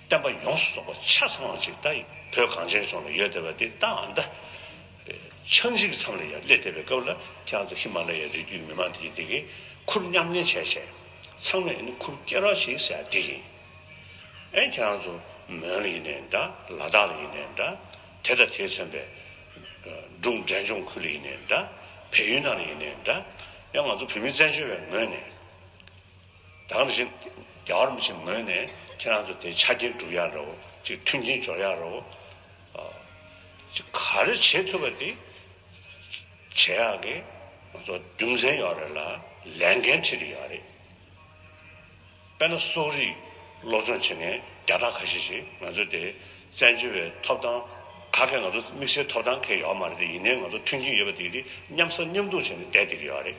བསྟན་པ་ཡོངས་སུ་རྫོགས་པ་ཆ་ཚང་བ་ཅིག་ད་བོད་གངས་ཅན་ལྗོངས་ལ་ཡོད་བསྡད་པ་འདི་ལྟ་འམ་ལྟ། ཆག་འཇིག་མཚམས་ལ་ཡང་སླེབས་བསྡད་པའི་སྐབས་ལ་དེ་ཡང་དུ་ཧི་མ་ལ་ཡའི་རི་རྒྱུད་མི་མང་དེ་ཡིན་འདི་གིས་ཁུར་མཉམ་ལེན་བྱས་བྱས། ཚང་མས་ནི་ཁུར་སྐྱེལ་རོགས་ཞིག་ཟེར་ཡ་འདི་ཡིན། ཨེ་ཁྱེད་རང་ཚོ་མོན་ལ་ཡིན་ནའི་འདྲ་ལ་དྭགས་ལ་ཡིན་ནའི་འདྲ། དེ་དང་དེས་མཚོན་པའི། འབྲུག་འབྲས་ལྗོངས་ཁུལ་ལ་ཡིན་ནའི་འདྲ། བལ་ཡུལ་ནང་ལ་ཡིན་ནའི་འདྲ། ཡང་ང་ཚོ་བོད་མི་བཙན་བྱོལ་བའི་ངོས་ནས། དམ་བཞི། རྒྱ་གར་མི་ཆེན་མོ་ངོས་ནས་ཁྱེད་རང་ཚོ་དེ་ཆ་རྐྱེན་བསྒྲུབ་ཡག་རོགས་གཅིག་མཐུན་རྐྱེན་སྦྱོར་ཡག་རོགས། གཅིག་ག་རེ་བྱེད་ཐུབ་པ་དེ་བྱེད་ཡག་གི། ང་ཚོ་རྒྱུ་མཚན་ཡོད་རེད་ལ་ལས་འགན་ཁྲི་རེ་ཡོད་རེད། དཔེར་ན་སོག་རིགས་སློབ་སྦྱོང་བྱེད་མཁན་རྒྱ་སྟག་ཁ་ཤས་ཤིག་ང་ཚོ་དེ་བཙན་བྱོལ་བའི་ཐོབ་ཐང་ག་གེ་ང་ཚོ་དམིགས་བསལ་ཐོབ་ཐང་གེ་ཡོད་མ་རེད་དེ་ཡིན་ནའི་ང་ཚོ་མཐུན་རྐྱེན་ཡོད་པ་དེ་དེ་མཉམ་ཟ་མཉམ་འཐུང་བྱེད་ནས་བསྡད་དེ་གི་ཡོད་རེད།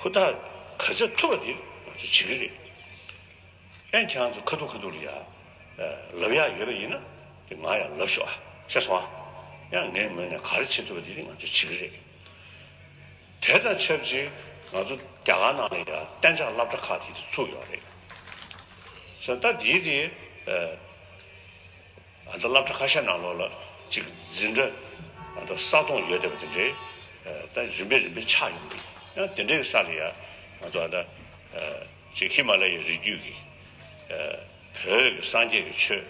ཧུར་ཐག་ག་ཚད་ཐུབ་པ་དེ་ང་ཚོ་བྱེད་ཀྱི་རེད། ཨེ་ཁྱེད་རང་ཚོ་ཁ་ཐུག་ཁ་ཐུག་ལ་ཡ་ལབ་ཡག་ཡོད་པ་ཡིན་ན་དེ་ང་ཡང་ལབ་ཤོག་ཨ་ཤེས་སོང་ཨ། ཡང་ངའི་ངོས་ནས་ག་རེ་བྱེད་ཐུབ་པ་དེ་ང་ཚོ་བྱེད་ཀྱི་རེད། དེ་དང་ཆབས་ཅིག་ང་ཚོ་རྒྱ་གར་ནང་ལ་ཡང་གཏན་འཇགས་སླབ་གྲྭ་ཁག་དེ་ཚུགས་ཡོད་རེད། ས་མཐའ་དེའི་དེ། ང་ཚོ་བླ་བྲེ་ཁ་ཤས་ནང་ལོགས་ལ་གཅིག་འཛིན་འདྲ་ང་ཚོ་ས་སྟོང་ཡོད་བསྡད་པ་དེ་འདྲའི་ད་རིམ་པས་རིམ་པས་ཆགས་ཡོང་གི་ཡང་དེ་འདྲའི་གི་ས་ལ་ཡང་ང་ཚོ་ད་གཅིག་ཧི་མ་ལ་ཡའི་རི་རྒྱུད་ཀྱི་བོད་ཀྱི་སངས་རྒྱས་ཀྱི་ཆོས་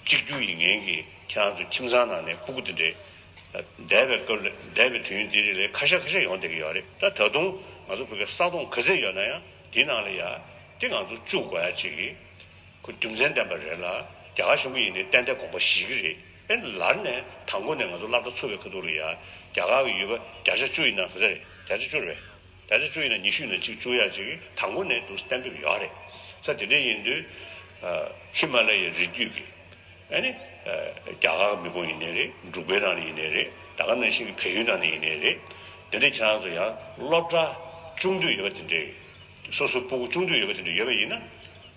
གཅིག་གྱུར་ཡིན་ངེས་ཀྱི་ཁྱེད་རང་ཚོ་ཁྱིམ་ཚང་ནང་ནས་སྤུ་གུ་དེ་འདྲའི་འདས་པའི་སྐབས་ལས་འདས་པའི་དུས་ཡུན་དེ་རིང་ལས་ཁ་ཤས་ཁ་ཤས་ཡོང་བསྡད་ཀྱི་ཡོད་རེད་ད་ད་དུང་ང་ཚོ་བོད་ཀྱི་ས་སྟོང་ག་ཚད་ཡོད་ན་ཡང་དེའི་ནང་ལ་ཡང་དེ་ང་ཚོ་བཅུག་དགོས་ཡ་གཅིག་གི་ཁོ་རྒྱུ་མཚན་བསྟན་པ་རེད་ལ་རྒྱ་གར་གཞུང་གི་ཡིན་ནའི་གཏན་གཏན་དགོངས་པ་བཞེས་ཀྱི་རེད་ཨེ་ལར་ནས་དང་པོ་ནས་ང་ཚོ་བླ་བྲ་ཚུར་བའི་ཁ་ཐུག་ལ་ཡ་རྒྱ་གར་གི་ཡོད་པ་བརྒྱ་ཆ་བཅུ་ཡིན་ན་ག་ཚད་རེད་བརྒྱ་ཆ་བཅུར་བས་བརྒྱ་ཆ་བཅུ་ཡིན་ན་ཉི་ཤུ་ཡིན་ན་གཅིག་བཅུ་ཡ་གཅིག་དང་པོ་ནས་འདུག་གཏན་འབེབས་ཡོད་རེད་ས་དེ་འདྲས་ཡིན་དུས་ཧི་མ་ལ་ཡའི་རི་རྒྱུད་ཀྱི་ཨེ་ནི་རྒྱ་གར་གི་མི་ཀུན་ཡིན་ནའི་རེད་འབྲུག་པའི་ནང་ནས་ཡིན་ནའི་རེད་ད་ག་ནང་བཞིན་གྱི་བལ་ཡུལ་ནང་ནས་ཡིན་ནའི་རེད་དེ་འདྲས་ཁྱེད་རང་ཚོ་ཡ་བློ་བྲ་ཅུང་འདུས་ཡོད་པ་དེ་འདྲས་སོ་སོའི་སྤུ་གུ་ཅུང་འདུས་ཡོད་པ་དེ་འདྲས་ཡོད་པ་ཡིན་ན